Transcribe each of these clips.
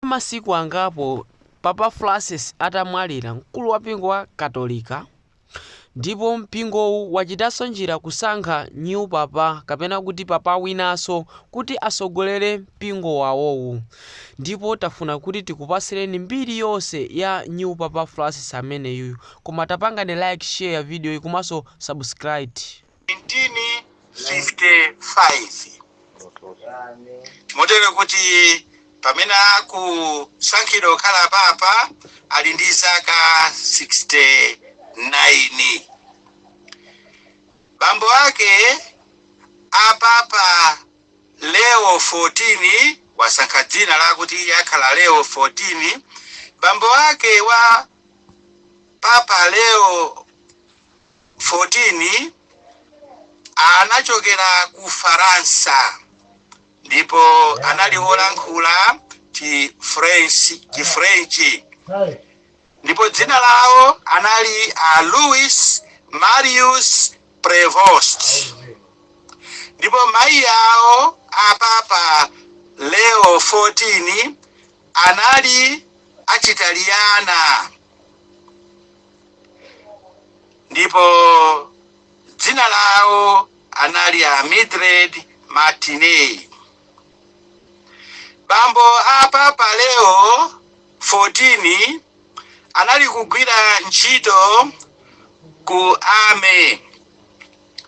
Kwa masiku angapo Papa Francis atamwalira, mkulu wa mpingo wa katolika ndipo mpingowu wachitanso njira kusankha new papa kapena kuti papa winanso kuti asogolere mpingo wawowu ndipo tafuna kuti tikupasireni mbiri yonse ya new papa Francis ameneyuyu koma tapangani like share videoyi komanso subscribe. 1955 motero kuti pamene akusankhidwa kukhala papa ali ndi zaka 69 bambo ake a papa leo 14 wasankha dzina lakuti iye akhala leo 14 bambo ake wa papa leo 14 anachokera ku Faransa ndipo anali wolankhula Chifrenchi ndipo dzina lawo anali a Louis Marius Prevost ndipo mayi awo a Papa Leo 14 anali achitaliyana ndipo dzina lawo anali a mildred martinez bambo a papa leo 14 anali kugwira ntchito ku army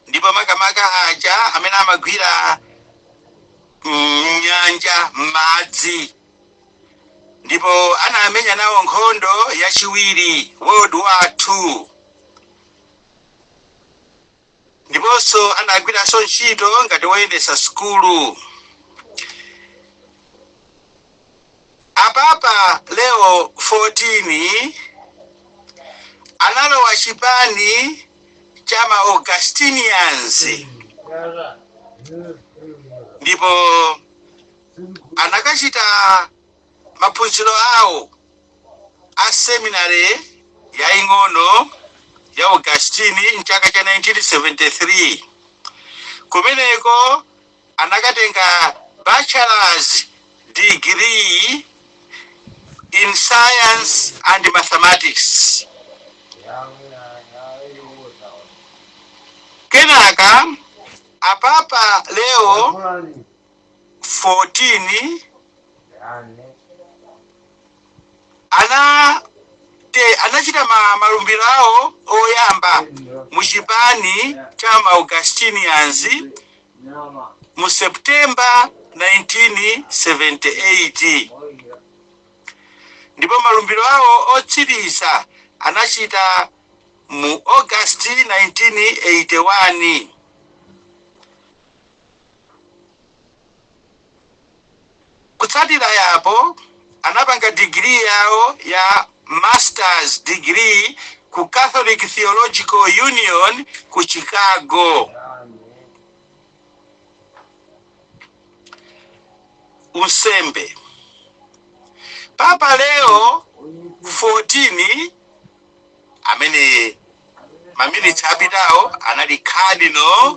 ndipo makamaka aja amene amagwira mnyanja m'madzi ndipo anamenya nawo nkhondo yachiwiri world war 2 ndiponso anagwiranso ntchito ngati woyendetsa sukulu a papa leo 14 analowa chipani cha ma augustinians ndipo anakachita maphunziro awo a seminary yaing'ono ya augustine mchaka cha 1973 kumeneko anakatenga bachelors degree in science and mathematics kenaka a papa leo 14 anachita malumbiro awo oyamba mu chipani cha ma Augustinians mu September 1978 ndipo malumbiro awo otsiriza anachita mu August 1981 Kutsatira apo, anapanga degree yawo ya Masters Degree ku Catholic Theological Union ku Chicago. Unsembe Papa Leo 14 amene maminitsi apitawo anali Cardinal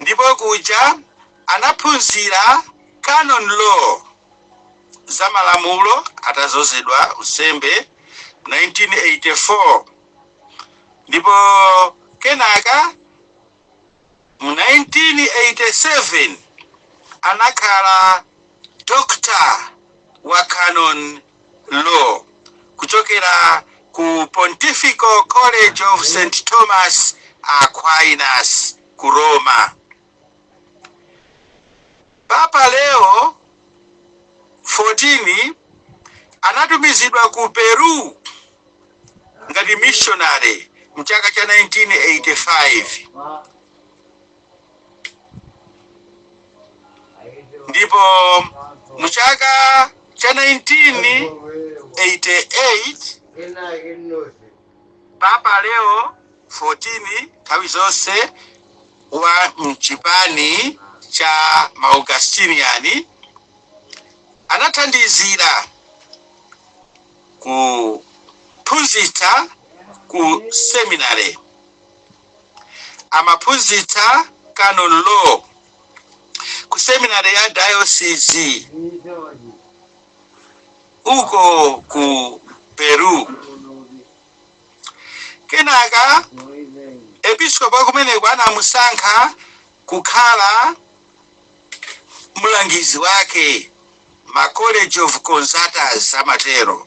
Ndipo kuja anaphunzira Canon Law, za malamulo atadzozedwa unsembe 1984 ndipo kenaka mu 1987 anakhala Doctor wa Canon Law, kuchokera ku Pontifical College of St. Thomas Aquinas ku Roma. Papa Leo 14 anatumizidwa ku Peru ngati missionary mchaka cha 1985. ndipo mu chaka cha 1988 Papa Leo 14 nthawi zonse wa mchipani cha ma Augustinian anathandizira kuphunzitsa ku seminary Amaphunzitsa Canon Law ku seminary ya dayosizi uko ku Peru. Kenaka episkopi akumeneko anamusankha kukhala mlangizi wake ma College of Consultors amatero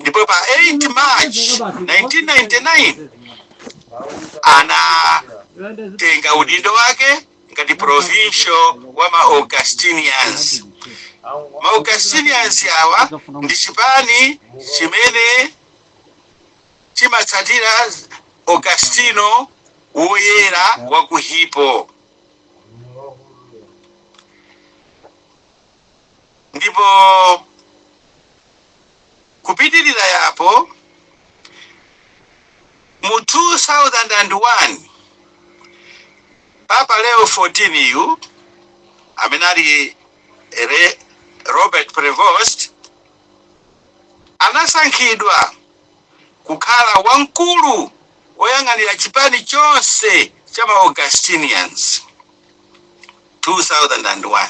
ndipo pa 8 march 1999 anatenga udindo wake ngati provincial wa ma augustinians ma augustinians awa ndi chipani chimene chimatsatira augustino woyera wa ku hippo Ndipo kupitirira apo, mu 2001, Papa Leo 14 yu, amene ali Robert Prevost, anasankhidwa. kukhala wamkulu woyang'anira chipani chonse cha ma Augustinians, 2001,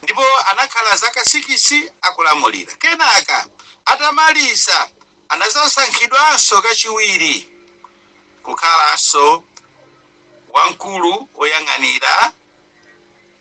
ndipo anakhala zaka sikisi akulamulira. Kenaka atamaliza, anazasankhidwanso kachiwiri kukhalanso wamkulu woyang'anira.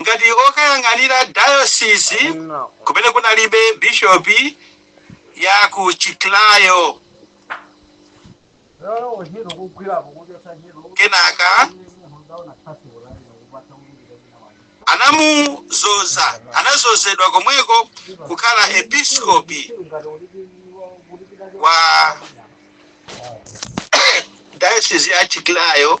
ngati okayang'anira dayosizi kumene kunalibe bishopi ya ku Chiclayo. Kenaka anamuzoza anazozedwa komweko kukhala episkopi wa dayosizi ya Chiclayo.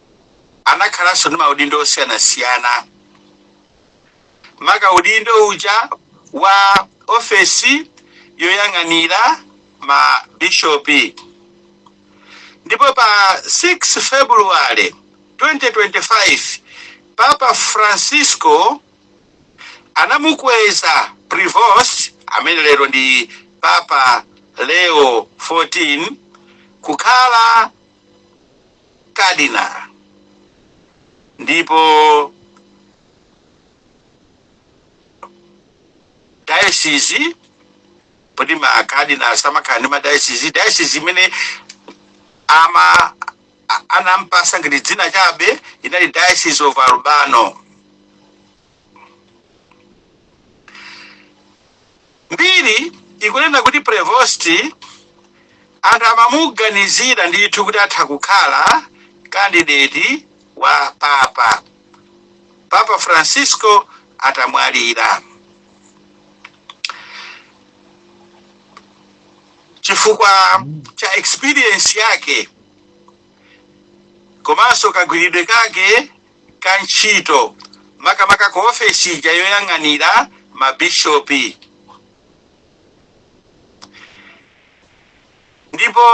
anakhalanso ndi maudindo osiyanasiyana maka udindo uja wa ofesi yoyang'anira ma bishopi ndipo pa 6 february 2025 papa francisco anamukweza prevost amene lero ndi papa leo 14 kukhala Kadina, ndipo dayosizi poti ma kadina samakhala ndi madayosizi dayosizi imene ama a- anampasa ngati dzina chabe inali diocese of albano mbiri ikunena kuti prevost anthu amamuganizira ndithu kuti atha kukhala kandideti wa papa papa francisco atamwalira chifukwa cha experience yake komanso kagwiridwe kake ka ntchito makamaka ku ofesi ija yoyang'anira mabishopi. Ndipo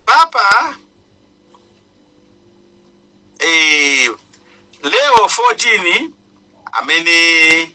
Papa eh, Leo 14 amene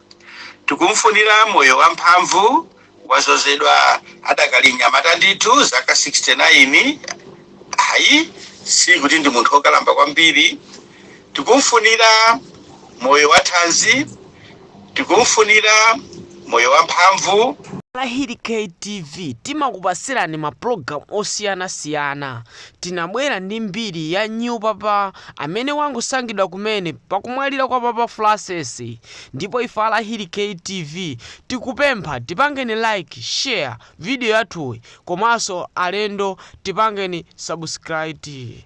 Tikumfunira moyo wamphamvu, wazozedwa adakali mnyamata ndithu zaka 69 ayi sikuti ndi munthu okalamba kwambiri. Tikumfunira moyo wathanzi, tikumfunira moyo wamphamvu. A Lahiri Kay TV timakupatsirani ma program osiyana siyana. Tinabwera ndi mbiri ya new papa amene wangosankhidwa kumene pakumwalira kwa papa Francis. ndipo ife a Lahiri Kay TV tikupempha tipangeni like, share video yathuyi komanso alendo tipangeni subscribe.